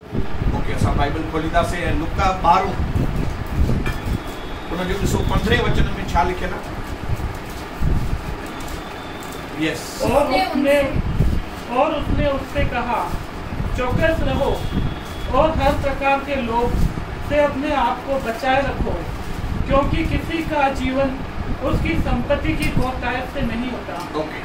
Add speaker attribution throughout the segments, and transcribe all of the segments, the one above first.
Speaker 1: Okay اسان Bible کولينداسين ۽ لوڪا ٻارهون ان جو ڏسو پندرهين وچن ۾ ڇا لکيل آ يس. اور اس نے
Speaker 2: اور اس نے اس سے ڪها چوڪس رهو اور هر پرڪار ڪي لوڀ سي اپني آپ ڪو بچائي رکو ڪيونڪي ڪسي ڪا جيون اس ڪي سمپتي ڪي بهتائت سي نهين هوتا. اوڪي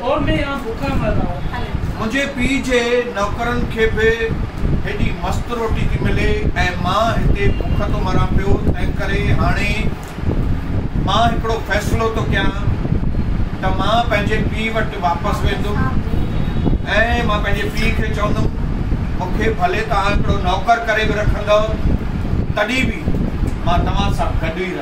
Speaker 2: اور مين يهان ڀوکا مر رها هون.
Speaker 1: منهنجي پيء جي نوڪرن کي به هيڏي مست روٽي ٿي ملي ۽ مان هتي بک ٿو مران پيو، تنهنڪري هاڻي مان هڪڙو فيصلو ٿو ڪيان ته مان پنهنجي پيء وٽ واپس ويندم ۽ مان پنهنجي پيء کي چوندم، مون کي ڀلي توهان هڪڙو نوڪر ڪري به رکندؤ، تڏهن به مان توهان سان گڏ ئي رهندس.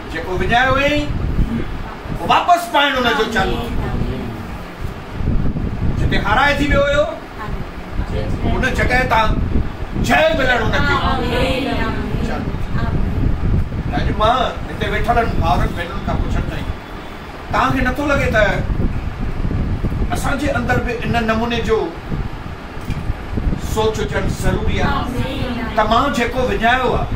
Speaker 1: جيڪو وڃايو هئيئي، واپس پائڻ ان جو چل جتي هارائجي ويو هيو، ان جڳهه تان جئي ملڻ ان کي چل. اڄ مان هتي ويٺلن ڀائرن ڀينرن کان پڇڻ چاهيندو، توهان کي نٿو لڳي ته اسان جي اندر به ان نموني جو سوچ هجڻ ضروري آهي ته مان جيڪو وڃايو آهي،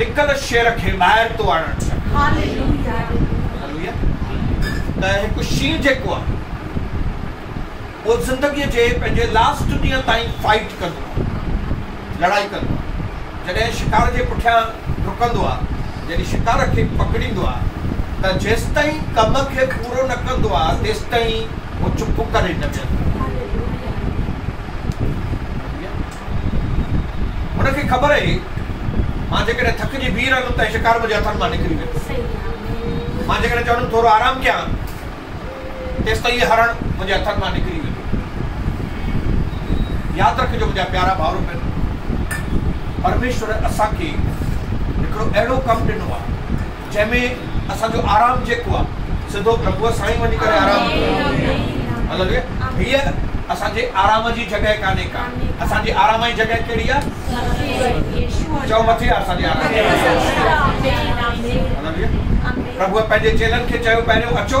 Speaker 1: لڪل شعر کي ٻاهر ٿو آڻڻ سکي. هاليلويا ته هڪ شينهن جيڪو آهي اهو زندگيء جي پنهنجي لاسٽ ڏينهن تائين فائيٽ ڪندو آهي لڙائي ڪندو آهي جڏهن شڪار جي پٺيان ڊڪندو آهي يعني شڪار کي پڪڙيندو آهي ته جيستائين ڪم کي پورو نه ڪندو آهي تيستائين هو چپ ڪري نه ويهندو آهي هاليلويا. هن کي خبر هئي، مان جيڪڏهن ٿڪجي بيهي رهندم ته شڪار منهنجي هٿن مان نڪري ويندو. مان جيڪڏهن چوندم ٿورو آرام ڪيان، تيستائين هيء هرڻ منهنجي هٿن مان نڪري ويندو. ياد رکجو منهنجا پيارا ڀائرو ڀينرو، پرميشور اسان کي هڪڙو اهڙو ڪم ڏنو آهي، جنهن ۾ اسان جو آرام جيڪو آ سڌو پرڀوء سائين وڃي ڪري آرام ڪيو ويو هيء اسان جي آرام جي جڳهه ڪانهي ڪا اسان جي آرام جي جڳهه ڪهڙي آ چئو مٿي آ اسان جي آرام جي پرڀوء پنهنجي چيلن کي چيو پهريون اچو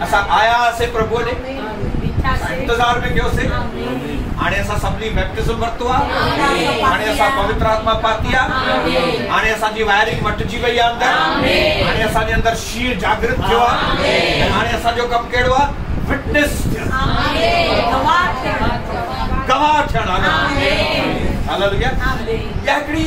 Speaker 1: اسان آيا هئاسين پرڀوء ڏي. اسان انتظار ۾ ڪيوسين. هاڻي اسان سڀني بيپٽزم ورتو آ. هاڻي اسان پوتر آتما پاتي آ. هاڻي اسان جي وائرنگ مٽجي وئي آ اندر. هاڻي اسان جي اندر شينهن جاگرت ٿيو آ. ۽ هاڻي اسان جو ڪم ڪهڙو آ؟ وٽنس ٿيڻ. گواهه ٿيڻ. هاليلويا. هاليلويا. اها هڪڙي.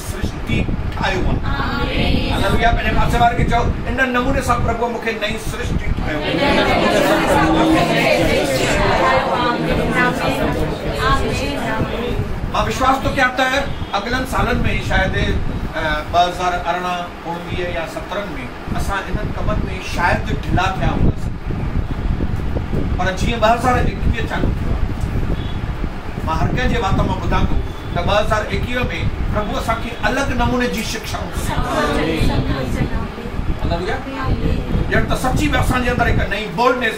Speaker 1: سرشتي ٺاهيو آهي. هللويا پنهنجي پاسي واري کي چئو، ان نموني سان پرڀوء مون کي نئين سرشتي ٺاهيو آهي. مان وشواس ٿو ڪيان ته اڳلن سالن ۾ ئي شايد ٻه هزار ارڙهن اڻويهه يا سترهن ۾ اسان انهن ڪمن ۾ شايد ڍلا ٿيا هونداسين پر جيئن ٻه هزار ايڪويهه چالو ٿيو آهي مان هر ڪنهن جي وات مان ٻڌان ٿو ته ٻه هزار ايڪويهه ۾ پرڀو اسان کي الڳ نموني جي شڪشائون ٿو ڏيندو. ڄڻ ته سچي به اسان جي اندر هڪ نئين Boldness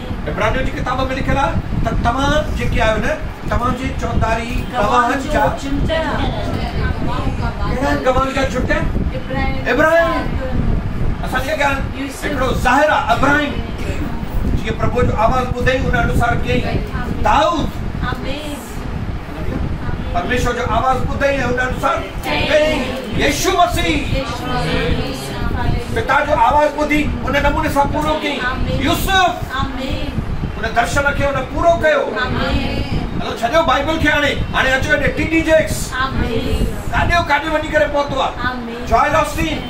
Speaker 1: عبرانيون جي ڪتاب ۾ لکيل آهي ته توهان جيڪي آهيو نه توهان جي چوڌاري گواهن جا ڪهڙا آهن گواهن جا جهٽ آهن ابراهيم اسان جي اڳيان هڪڙو ظاهر آهي ابراهيم جيئن پرڀوء جو آواز ٻڌئي ان انوسار ڪيئي دائود پرميشور جو آواز ٻڌئي ۽ هو ڏاڍو ساڙ ڪيائين، يسوع مسيح! پتا جو آواز ٻڌي ان نموني سان پورو ڪيائين، يوسف! ان درشن کي هن پورو ڪيو. هلو ڇڏيو بائبل کي هاڻي، هاڻي اچو هيڏي ٽي ڊي جيڪس. ڪاڏيو ڪاڏي وڃي ڪري پهتو آ جوئل آسٽين.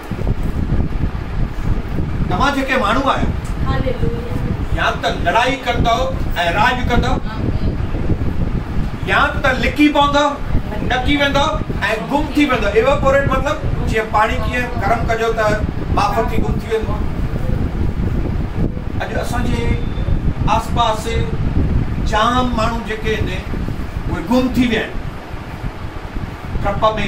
Speaker 1: توهان جيڪي ماڻهو آهيو يا ته لڙائي ڪندؤ ۽ راڄ ڪندؤ يا ته لڪي پوندؤ ڏڪي ويندؤ ۽ گم ٿي ويندؤ ايواپوريٽ مطلب جيئن پاڻي ڪيئن گرم ڪجو ته ٻاڦ ٿي گم ٿي ويندو اڄ اسان جي آس پاس جام ماڻهو جيڪي آهن اهي گم ٿي ويا آهن ڊپ ۾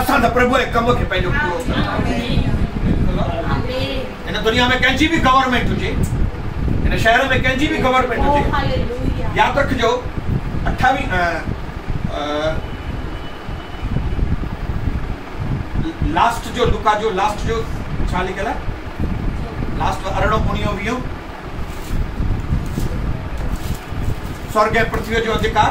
Speaker 1: اسان ته پرڀوء جي ڪم کي پنهنجو پورو سمجهندا آهيون. هن دنيا ۾ ڪنهن جي به گورنمينٽ هجي، هن شهر ۾ ڪنهن جي به گورنمينٽ هجي، ياد رکجو اٺاويهه لاسٽ جو لوڪا جو لاسٽ جو ڇا لکيل آهي لاسٽ ارڙهون اڻيهو ويهو سورگ ۽ پرٿويء جو اڌڪار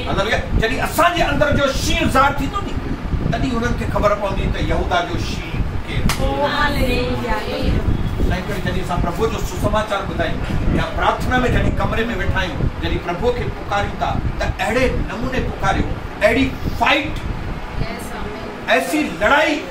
Speaker 1: مطلب اهو، جڏهن اسان جي اندر جو شينهن ظاهر ٿيندو ني، تڏهن هنن کي خبر پوندي ته يهوداه جو شينهن ڪير آهي. تنهنڪري جڏهن اسان پرڀوء جو سسماچار ٻڌايون يا پرارٿنا ۾ جڏهن ڪمري ۾ ويٺا آهيون، جڏهن پرڀوء کي پڪاريون ٿا ته اهڙي نموني پڪاريو، اهڙي فائيٽ، ايسي لڙائي،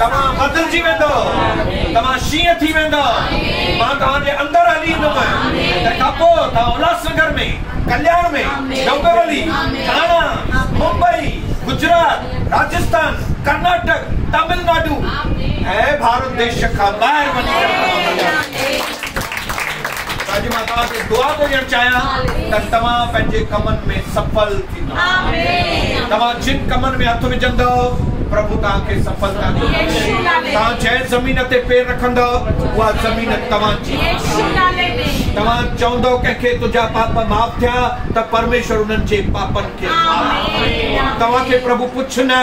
Speaker 1: توهان بدلجي ويندؤ، توهان شينهن ٿي ويندؤ، مان توهان جي اندر هلي ايندم ۽ تنهن کان پوء توهان الهاسنگر ۾، ڪلياڻ ۾، ڊومبيولي، ٿاڻا، ممبئي، گجرات، راجستان، ڪرناٽڪ، تامل ناڊو ۽ ڀارت ديش کان ٻاهر وڃي ڪري توهان ڀليا ٿيندؤ. اڄ مان توهان کي دعا ٿو ڏيڻ چاهيان ته توهان پنهنجي ڪمن ۾ سڦل. توهان جن ڪمن ۾ هٿ وجهندؤ، پرڀو توهان کي سڦلتا ڏيندو. توهان جنهن زمين تي پير رکندؤ، اها زمين توهان جي هوندي. توهان چوندؤ ڪنهن کي تنهنجا پاپ معاف ٿيا ته پرميشور انهن جي پاپن کي معاف ڪندو. توهان کي پرڀو ڪجهه نه.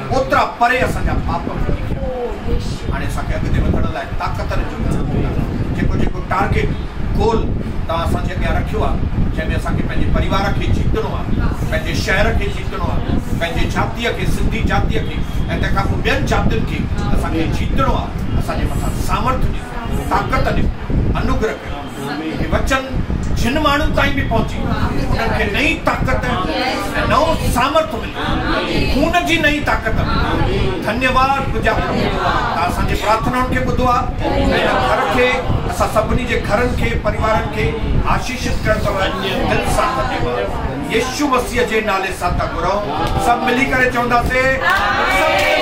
Speaker 1: اوترا پري اسان جا پاپ ڦٽي ويا هاڻي اسان کي اڳتي وڌڻ لاء طاقتن جو ڪجهه ڪو نه جيڪو جيڪو ٽارگيٽ گول توهان اسان جي اڳيان رکيو آهي جنهن ۾ اسان کي پنهنجي پريوار کي جيتڻو آهي پنهنجي شهر کي جيتڻو آهي پنهنجي جاتيء کي سنڌي جاتيء کي ۽ تنهن کان پوء ٻين جاتين کي اسان کي جيتڻو آهي اسان جي مٿان سامرٿ ڏيو طاقت ڏيو انوگره ڪريو. ۾ هي وچن جن ماڻهن تائين به پهچي انهن کي نئين طاقت ۽ نئون سامرٿ ملي خون جي نئين طاقت ملي ڌنيواد پوڄا پرڀو تان اسان جي پرارٿنائن کي ٻڌو آهي ۽ هن گهر کي اسان سڀني جي گهرن کي پريوارن کي آشيشت ڪيو اٿو دل سان ڌنيواد يسوع مسيح جي نالي سان ٿا گهرون سڀ ملي ڪري چونداسين آمين